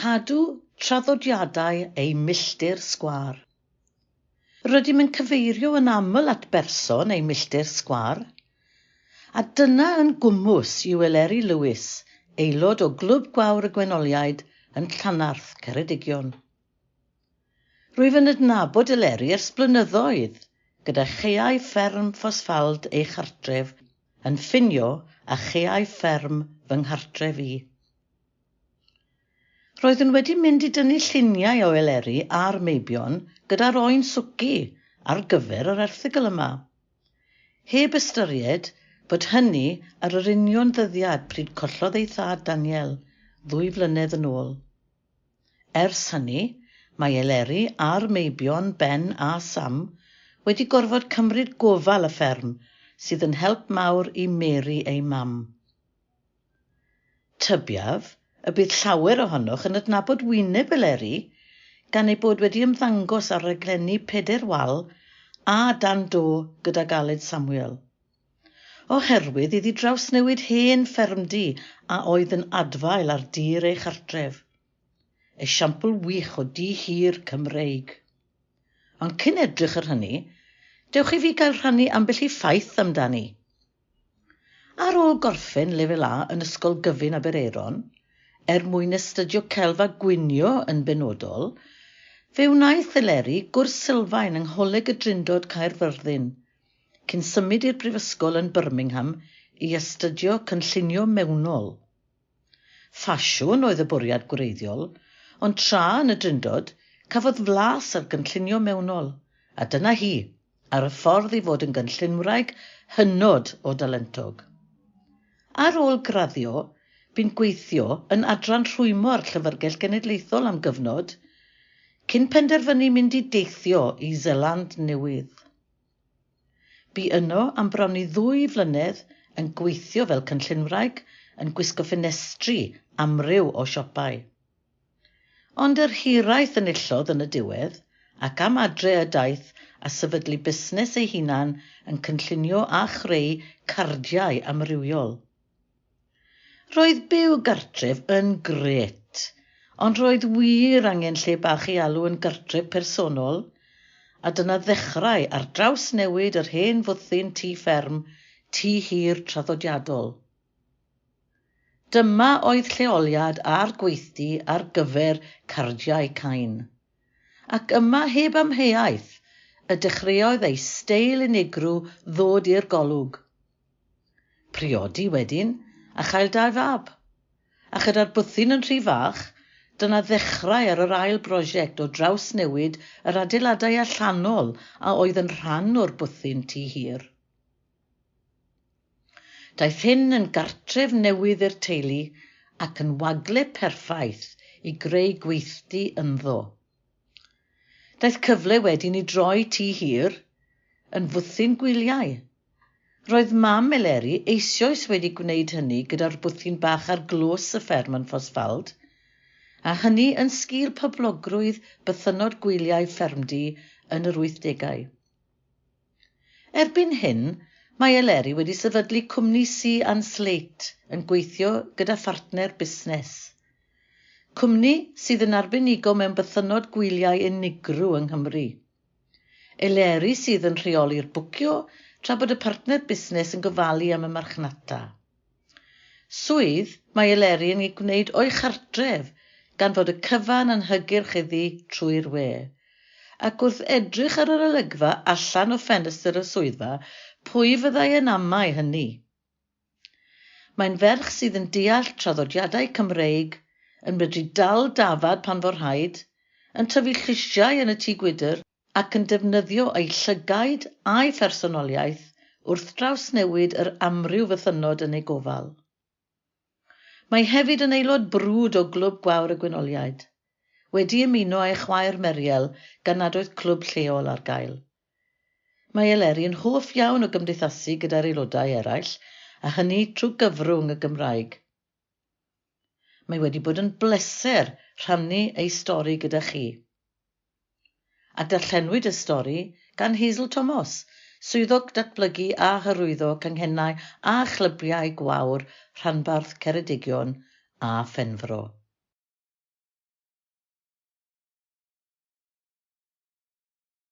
Cadw traddodiadau eu milltir sgwâr. Rydym yn cyfeirio yn aml at berson eu milltir sgwâr, a dyna yn gwmws yw Eleri Lewis, aelod o Glwb Gwawr y Gwenoliaid yn Llanarth, Ceredigion. Rwyf yn adnabod Eleri ers blynyddoedd, gyda chaeau fferm Ffosffald ei chartref yn ffinio â chaeau fferm fy nghartref i. Roeddwn wedi mynd i dynnu lluniau o Eleri a'r Meibion gyda'r Oen Swci ar gyfer yr erthygl yma. Heb ystyried fod hynny ar yr union ddyddiad pryd collodd ei thad Daniel, ddwy flynedd yn ôl. Ers hynny, mae Eleri a'r Meibion, Ben a Sam, wedi gorfod cymryd gofal y fferm, sydd yn help mawr i Mary ei mam. Tybiaf y bydd llawer ohonoch yn adnabod wyneb Eleri gan ei bod wedi ymddangos ar raglenni Peder Wal a Dan Do gydag Aled Samuel. Oherwydd iddi drawsnewid hen ffermdy a oedd yn adfail ar dir ei chartref. Esiampl wych o du hir Cymreig. Ond cyn edrych ar hynny, dewch i fi gael rhannu ambell i ffaith amdani. Ar ôl gorffen Lefel A yn Ysgol Gyfun Aberaeron, er mwyn astudio celf a gwnïo yn benodol, fe wnaeth Eleri gwrs sylfaen yng Ngholeg y Drindod Caerfyrddin, cyn symud i'r Brifysgol yn Birmingham i astudio Cynllunio Mewnol. Ffasiwn oedd y bwriad gwreiddiol, ond tra yn y Drindod, cafodd flas ar gynllunio mewnol, a dyna hi, ar y ffordd i fod yn gynllunwraig hynod o dalentog. Ar ôl graddio, bu'n gweithio yn adran rhwymo ar Llyfrgell Genedlaethol am gyfnod, cyn penderfynu mynd i deithio i Seland Newydd. Bu yno am bron i ddwy flynedd yn gweithio fel cynllunwraig yn gwisgo ffenestri amryw o siopau. Ond yr hiraeth enillodd yn y diwedd ac am adre y daeth a sefydlu busnes ei hunan yn cynllunio a chreu cardiau amrywiol. Roedd byw gartref yn grêt, ond roedd wir angen lle bach i alw yn gartref personol, a dyna ddechrau ar drawsnewid yr hen fwthyn tŷ fferm, tŷ hir traddodiadol. Dyma oedd lleoliad a'r gweithdy ar gyfer cardiau cain. Ac yma heb amheuaeth y dechreuodd ei steil unigryw ddod i'r golwg. Priodi wedyn a chael dau fab. A chyda'r bwthyn yn rhy fach, dyna ddechrau ar yr ail brosiect o drawsnewid yr adeiladau allanol a oedd yn rhan o'r bwthyn tŷ hir. Daeth hyn yn gartref newydd i'r teulu ac yn wagle perffaith i greu gweithdy ynddo. Daeth cyfle wedyn i droi tŷ hir yn fwthyn gwyliau Roedd mam Eleri eisioes wedi gwneud hynny gyda'r bwthyn bach ar glws y fferm yn Ffosfald, a hynny yn sgil poblogrwydd bythynnod gwyliau ffermdy yn yr wythdegau. Erbyn hyn, mae Eleri wedi sefydlu cwmni Sea and Slate yn gweithio gyda phartner busnes. Cwmni sydd yn arbenigo mewn bythynnod gwyliau unigryw yng Nghymru. Eleri sydd yn rheoli'r bwcio tra bod y partner busnes yn gofalu am y marchnata. Swydd, mae Eleri yn ei gwneud o'i chartref, gan fod y cyfan yn hygyrch iddi trwy'r we. Ac wrth edrych ar yr olygfa allan o ffenestr y swyddfa, pwy fyddai yn amau hynny? Mae'n ferch sydd yn deall traddodiadau Cymreig, yn medru dal dafad pan fo rhaid, yn tyfu llysiau yn y tŷ gwydr ac yn defnyddio ei llygaid a'i phersonoliaeth wrth drawsnewid yr amryw fythynnod yn ei gofal. Mae hefyd yn aelod brwd o Glwb Gwawr y Gwynoliaid, wedi ymuno â'i chwaer Meriel gan nad oedd clwb lleol ar gael. Mae Eleri yn hoff iawn o gymdeithasu gyda'r aelodau eraill, a hynny trwy gyfrwng y Gymraeg. Mae wedi bod yn bleser rhannu ei stori gyda chi. A darllenwyd y stori gan Hazel Tomos, Swyddog Datblygu a Hyrwyddo Canghennau a Chlybiau Gwawr Rhanbarth Ceredigion a Phenfro.